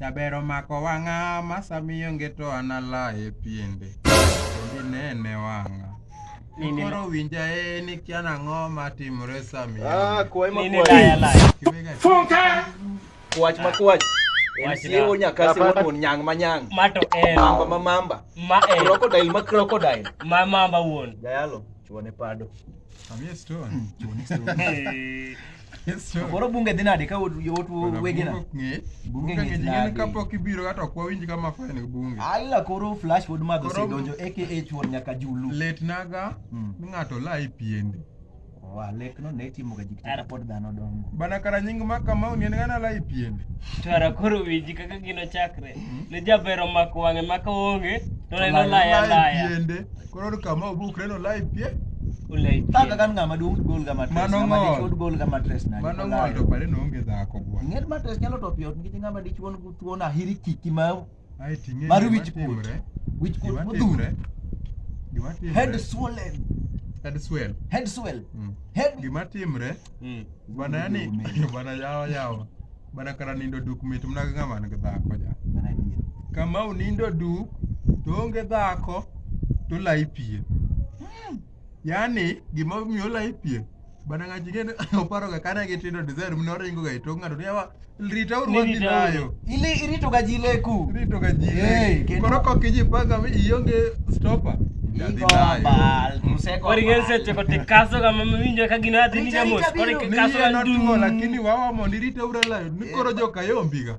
Jaber omako wang'a masamiyo ngeto anala e piende inene wang'a koro winja e ni kiana ang'o matimore samiyo ah, Kwach ma kwach. En Wach siewo na. nyaka siewo Papa. tuon nyang' ma nyang'. Ma to en. Mamba ma mamba. Ma en. Crocodile ma crocodile. Ma mamba wuon. Jayalo, chuone pado. Amie stone. Chuone stone. Amie stone. Koro bunge dhi nade ka ut- yot Koro wegina? bunge ok ng'e. Bunge Bunge ng'e ng'e nade? ka pok ibiro kata ok wawinj kama fine gi bunge. Ala koro flash pod madho Koro- osedonjo aka chuon nyaka julu. Lit naga ni ng'ato la e piende. Oa lek no ne timo ga jikita Ara- pod dhano dongo. Bana kara nying ma kamau ni en gana la ipiende. Twara koro winji kaka gino chakre. Ne jaber omako wang'e maka onge to neno laya laya. Ipiende. Koro ni kamau bukre no la ipie. Ulai. Taka kan ng'ama duong' gol ga matres. Mano Ng'ama ng'ol. dichuo gol ga matres na. Mano ng'ol to pare no onge dhako bwana. Ng'er matres nyalo to piyo nikech ng'ama dichuo thuon ahiri kiki ma mar wichkuot wichkuot modhuro head swollen head swell head swell mm. head gima timre mm. bana yani bana yawa yawa bana kara nindo duk mit mna ga man ga dhako ja kama unindo duk to onge dhako to lai pie Yaani gima omiyo la ipie. Bana ngaji ngene oparo ga kana gi tindo desire mno ringo ga ito ngado ni awa rita uru wadhi nayo. Ile irito ga jile ku. Irito ga jile. Hey, Koro ko kiji panga mi ionge stopper. lakini wawa mondo irite uralayo ni koro jokayombiga